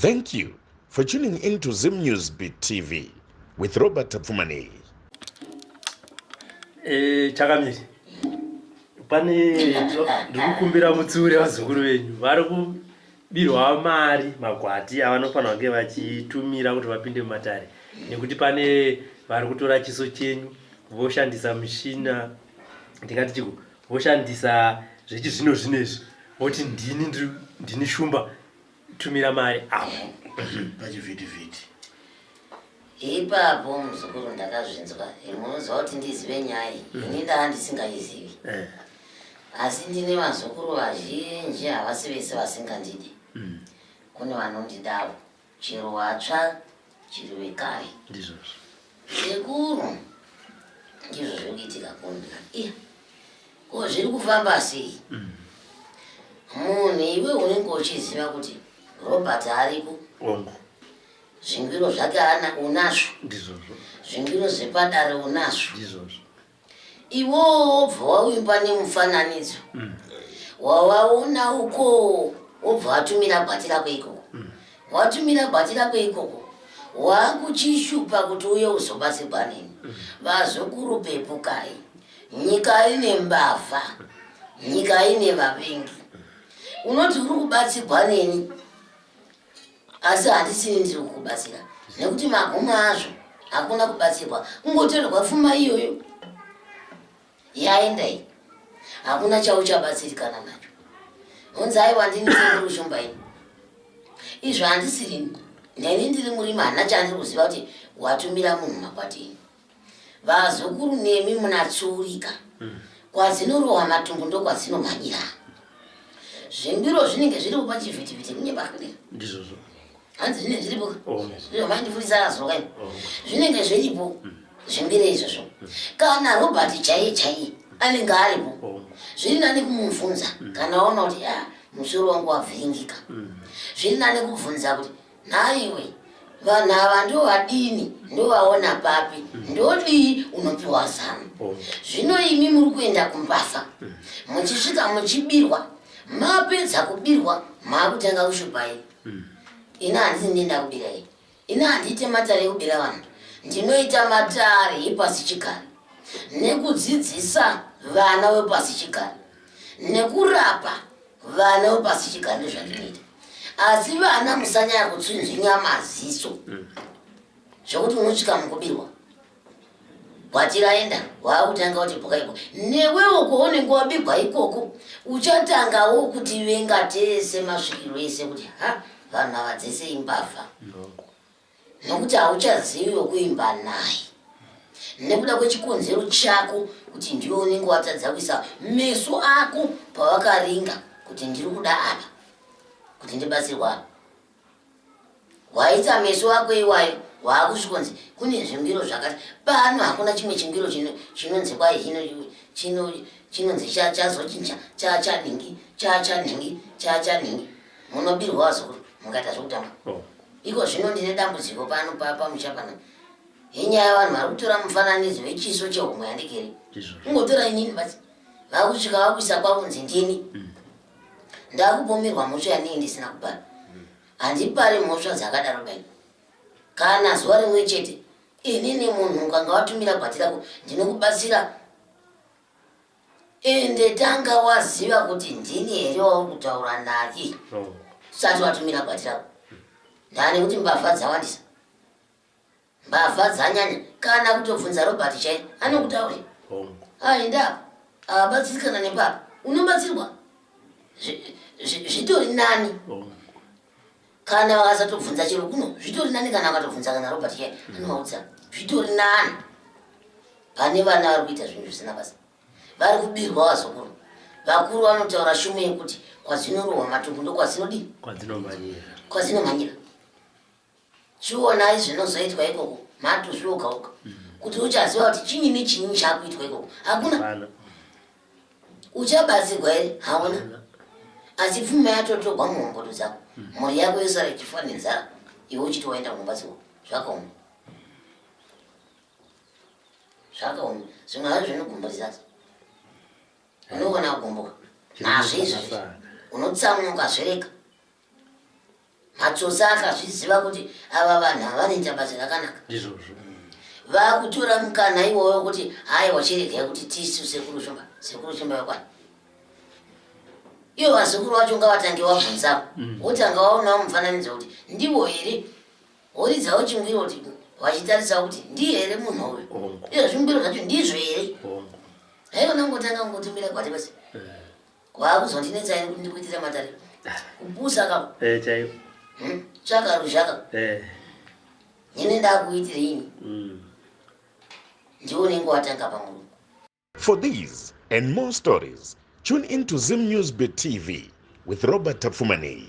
Thank you for tuning in to Zim News Beat TV with Robert Tapfumanei. Eh, chakamiri. Pane ndikukumbira mutsiure vazukuru venyu vari kubirwa mari magwati avanofanira kunge vachitumira kuti vapinde mumatare nekuti pane vari kutora chiso chenyu voshandisa mushina ndingati chiko voshandisa zvechizvino zvino izvi voti ndini ndini shumba tumira mari apo pachivhitivhiti ipapo muzukuru ndakazvinzwa munoziva kuti ndizive nyaya iyi mm. ini ndava ndisingaizivi eh. asi ndine vazukuru vazhinji havasi vese vasingandidi mm. kune vanondidawo chero watsva chiri wekare ndizvozvo sekuru ndizvo zviri kuitika kundika iya ko zviri kufamba sei mm. munhu iwe unenge uchiziva kuti robert ariko ongo zvingiro zvake ana unazvo ndizvozvo zvingiro zvepadare unazvo ndizvozvo iwowo wobva wavimba nemufananidzo mm. wavaona ukoo wobva watumira bhati rako ikoko mm. watumira bhati rako ikoko wakuchishupa kuti uye uzobatsirwa nini mm. vazukuru pepukai nyika ine mbavha nyika ine vavengi unoti uri kubatsirwa neni asi handisini ndiri kukubatsira nekuti magumo azvo hakuna kubatsirwa kungotorerwa fuma iyoyo yaendai hakuna chauchabatsirikana nacho honzi aiwa ndini sekuru shumba ini izvo handisirini neni ndiri murima hana chandiri kuziva kuti watumira munhu makwatini vazukuru nemi munatsiurika mm. kwazinorowa matumbu ndokwadzinomhanyira zvimbiro zvinenge zviripo pachivhitivhiti kunye pakudi ndizvozvo hanzi zvinenge zviripo oh, zviro maindifurisa azoka oh. zvinenge zviripo mm. zvimbiro izvozvo mm. kana robert chaiye chaiye anenge aripo oh. zviri nani kumubvunza kana waona kuti ah, musoro wangu wavhiringika zviri nani kubvunza kuti Nhaiwe, vanhu ava ndovadini ndovaona papi ndodii unopiwa zano oh. zvino imi muri kuenda kumbasa mm. muchisvika muchibirwa mapedza kubirwa maakutanga kushupai mm. ini handisi ndienda kubira i ini handiite matare ekubira vanhu ndinoita matare epasi chigare nekudzidzisa vana vepasi chigare nekurapa vana vepasi chigare ndozvandinoita asi vana musanyaya kutsinzinya maziso mm. zvekuti unosvika mukubirwa kwatiraenda waakutanga kuti bhuka iko newewo kwaunenge wabigwa ikoko uchatangawo kuti venga tese masvikiro ese kuti ha vanhu ava dzese imbavha nokuti hauchazivi wekuimba naye nekuda kwechikonzero chako kuti ndiwe unenge watadza kuisa meso ako pawakaringa kuti ndiri kuda apa kuti ndibatsirwa apa waisa meso ako iwayo waakuchikonzi kune zvimbiro zvakati pano hakuna chimwe chimbiro chinonzi kwai hino chinonzi chazochinja chachanhingi chachanhingi chachanhingi Munobirwa wazukuru mukaita zvekutamba. Oh. Iko zvino ndine dambudziko pano papa muchapana. Inyaya yavanhu vari kutora mufananidzo wechiso chehomwe yandikeri. Ungotora inini basi. Vakusvika vakuisa kwakunzi ndini. Mm. Ndakupomerwa mhosva yanei ndisina kubara. Mm. Handipari mhosva dzakadaro bai. Kana zuva rimwe chete inini munhu ukanga watumira gwati rako ndinokubatsira ende tanga waziva kuti ndini here wauri kutaura naki usati watumira gwati rako ndani kuti mbavha dzawandisa mbavha dzanyanya kana kutobvunza robert chai anokutauri aenda abatsirikana nepapa unobatsirwa zvitori nani kana vakasatobvunza chero kuno zvitori nani kana vakatobvunza kana robert chaye anovaudza zvitori nani pane vana vari kuita zvinhu zvisina basa vari kubirwa vazukuru vakuru vanotaura shume yekuti kwazinorohwa matumbu ndokwazinodii kwazinomhanyira chionai zvinozoitwa ikoko matuzviogauka mm. kuti uchaziva kuti chinyi nechinyi chakuitwa ikoko hakuna uchabatsirwa here hauna asi pfuma yatotogwa mumhomboto dzako hmm. mhuri yako yosara ichifa nenzara iwe uchiti waenda kunobatsirwa zvakaoma zvakaoma zvimwe hazvo zvinogumburisasa unogona kugumbuka nazvo izvozvo unotsamuka zvereka matsotsi akazviziva kuti ava vanhu havanoita basa rakanaka ndizvozvo vakutora mukana iwoyo kuti hayi wachiregai kuti tisu sekuru shumba sekuru shumba vakwani ivo vazukuru vacho ngavatange vabvunzavo mm. wotanga waonawo mufananidzo kuti ndivo here woridzawo chingwiro kuti vachitarisa kuti ndiye here munhu uyu izvo zvingwiro zvacho ndizvo here haikona kungotanga kungotumira kwati basi eh. Kwakuzondinetsa iri kuti ndikuitira matare. Kubusa ka. Eh chaiyo. Hmm? Chaka ruzhaka. Eh. Nene ndakuitira ini. Mm. Ndiwo nengo watanga pamuru. For these and more stories, tune in to Zim News Beat TV with Robert Tapfumanei.